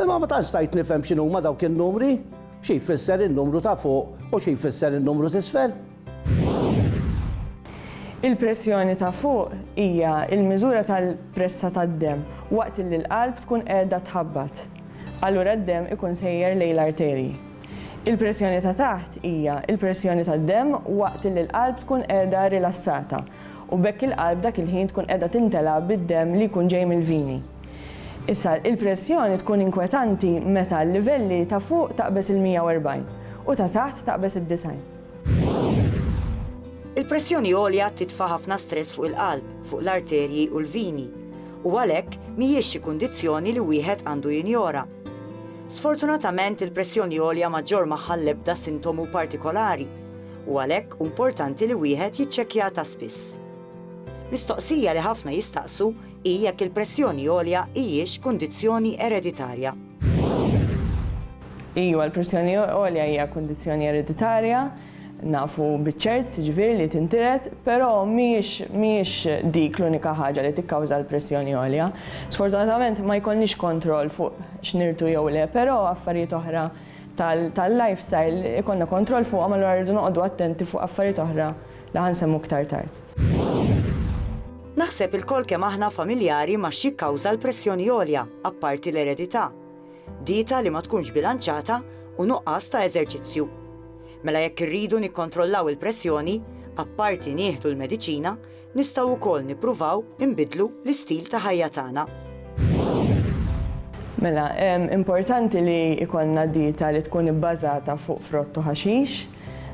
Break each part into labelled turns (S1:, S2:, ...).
S1: Imma ma tantx stajt nifhem x'inhuma dawk in-numri, xi jfisser in-numru ta' fuq u xi jfisser in-numru t'isfel.
S2: Il-pressjoni ta' fuq hija l-miżura tal-pressa tad-demm waqt li l-qalb tkun qiegħda tħabbat. Allura d-demm ikun sejjer lejn l-arterji. Il-pressjoni ta' taħt hija l-pressjoni tad-demm waqt li l-qalb tkun qiegħda rilassata. u b'hekk il-qalb dak il-ħin tkun qiegħda timtela bid-demm li jkun ġej mill-vini. Issa, il-pressjoni tkun inkwetanti meta l-livelli ta' fuq taqbeż il-140 u ta' taħt taqbeż id-90.
S3: Il-pressjoni għolja titfa' ħafna stress fuq il-qalb, fuq l-arterji u l-vini, u għalhekk mhijiex xi kundizzjoni li wieħed għandu jinjora. Sfortunatament il-pressjoni għolja ma ġġorr magħha l-ebda sintomu partikolari, u għalhekk hu importanti li wieħed jiċċekkjaha ta' spiss. Mistoqsija li ħafna jistaqsu hi jekk il-pressjoni għolja hijiex kundizzjoni ereditarja.
S2: Iva, l-pressjoni għolja hija kundizzjoni ereditarja, nafu biċ-ċert jiġifieri li tintiret, però mhijiex dik l-unika ħaġa li tikkawża l-pressjoni għolja. Sfortunatament ma jkollniex kontroll fuq x'nirtu jew le, però affarijiet oħra tal-lifestyle ikollna kontroll fuqhom allura rridu noqogħdu attenti fuq affarijiet oħra li ħa nsemmu iktar tard. Naħseb
S3: ilkoll kemm aħna familjari ma' x'jikkawża l-pressjoni għolja, apparti l-eredità. Dieta li ma tkunx bilanċata u nuqqas ta' eżerċizzju. Mela jekk irridu nikkontrollaw il-pressjoni, apparti nieħdu l-mediċina, nistgħu wkoll nippruvaw inbiddlu l-istil ta' ħajja tagħna.
S2: Mela, importanti li jkollna dieta li tkun ibbażata fuq frott u ħaxix,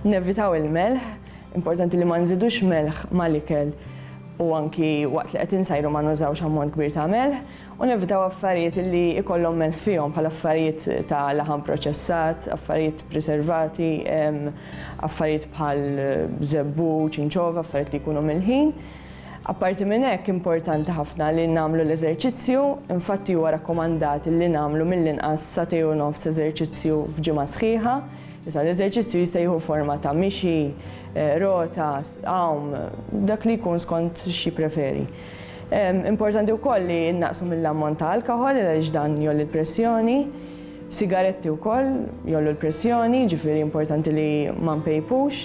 S2: nevitaw il-melħ, importanti li ma nżidux melħ mal-ikel u anki waqt li qed insajru ma nużawx ammont kbir ta' melħ, u nevitaw affarijiet li jkollhom melħ fihom bħal affarijiet ta' laħam proċessat, affarijiet priservati, affarijiet bħal żebbu, ċinċova, affarijiet li jkunu milħin. Apparti minn hekk importanti ħafna li nagħmlu l-eżerċizzju, infatti huwa rakkomandat li nagħmlu mill-inqas sagħtej u nofs eżerċizzju f'ġimgħa sħiħa. Issa l-eżerċizzju jista' jieħu forma ta' mixi, rota, għawm, dak li jkun skont xi jippreferi. Importanti wkoll li nnaqqsu mill-ammont ta' alkoħol għaliex dan jgħolli l-pressjoni. Sigaretti wkoll jgħollu l-pressjoni, ġifieri importanti li ma npejpux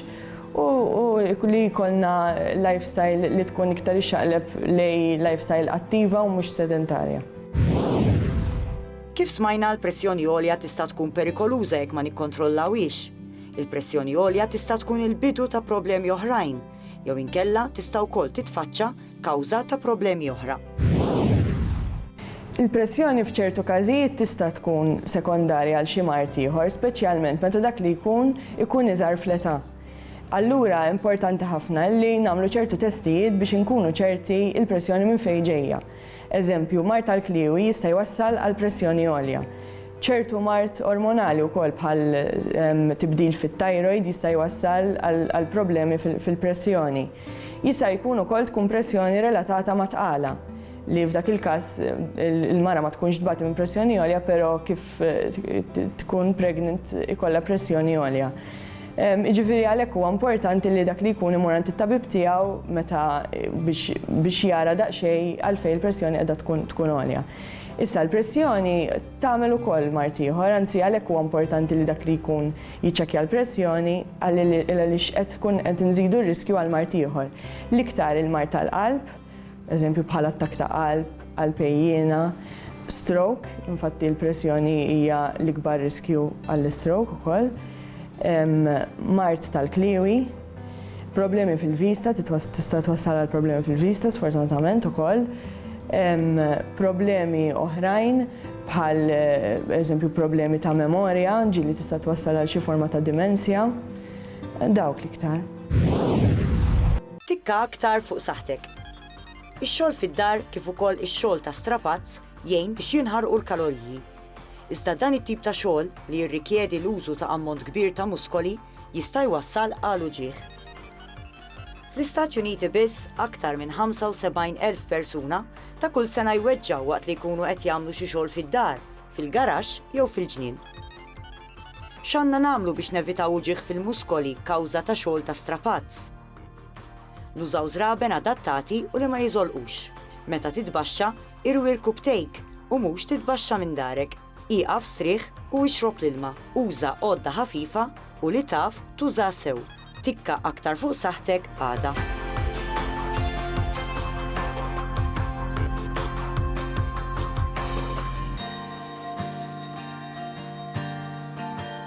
S2: u li jkollna lifestyle li tkun iktar ixxaqleb lejn lifestyle attiva u mhux sedentarja.
S3: Kif smajna, l-pressjoni għolja tista' tkun perikoluża jekk ma nikkontrollawhiex. Il-pressjoni għolja tista' tkun il-bidu ta' problemi oħrajn, jew inkella tista' wkoll titfaċċa kawża ta' problemi oħra.
S2: Il-pressjoni f'ċertu każijiet tista' tkun sekondarja għal xi mard ieħor, speċjalment meta dak li jkun ikun iżgħar fl-età. Allura importanti ħafna li nagħmlu ċertu testijiet biex inkunu ċerti l-pressjoni minn fejn ġejja. Eżempju, mard tal-kliewi jista' jwassal għal pressjoni għolja. Ċertu mard ormonali wkoll bħal tibdil fit-thyroid jista' jwassal għal problemi fil-pressjoni. Jista' jkun ukoll tkun pressjoni relatata ma' tqala, li f'dak il-każ il-mara ma tkunx tbati minn pressjoni għolja pero kif tkun pregnant ikollha pressjoni għolja. Jiġifieri għalhekk huwa importanti li dak li jkun imur għand it-tabib tiegħu meta biex jara daqsxejn għalfejn il-pressjoni qiegħda tkun tkun għolja. Issa l-pressjoni tagħmel ukoll mard ieħor, anzi għalhekk huwa importanti li dak li jkun jiċċekkja l-pressjoni għaliex qed tkun qed inżidu r-riskju għal mard ieħor. L-iktar il-mard tal-qalb, eżempju bħal attakk ta' qalb, qalb għejjiena, stroke, infatti l-pressjoni hija l-ikbar riskju għall-istroke ukoll, mard tal-kliewi, problemi fil-vista, tista' twassal għal problemi fil-vista sfortunatament ukoll, problemi oħrajn bħal eżempju problemi ta' memorja, ġieli tista' twassal għal xi forma ta' dimensja, dawk l-iktar. Tikka
S3: aktar fuq saħħtek. Ix-xogħol fid-dar kif ukoll ix-xogħol ta' strapazz jgħin biex jinħarqu l-kaloriji. Iżda dan it-tip ta' xogħol, li jirrikjedi l-użu ta' ammont kbir ta' muskoli, jista' jwassal għal uġigħ. Fl-Istati Uniti biss, aktar minn 75 elf persuna ta' kull sena jweġġgħu waqt li jkunu qed jagħmlu xi xogħol fid-dar, fil-garaxx jew fil-ġnien. X'għandna nagħmlu biex nevitaw uġigħ fil-muskoli kawża ta' xogħol ta' strapazz? Nużaw żraben adattati u li ma jiżolqux. Meta titbaxxa, irwi rkub tejk u mhux titbaxxa minn darek. Ieqaf strieħ u ixrob l-ilma. Uża għodda ħafifa u li taf tuża sew. Tikka aktar fuq saħħtek għada.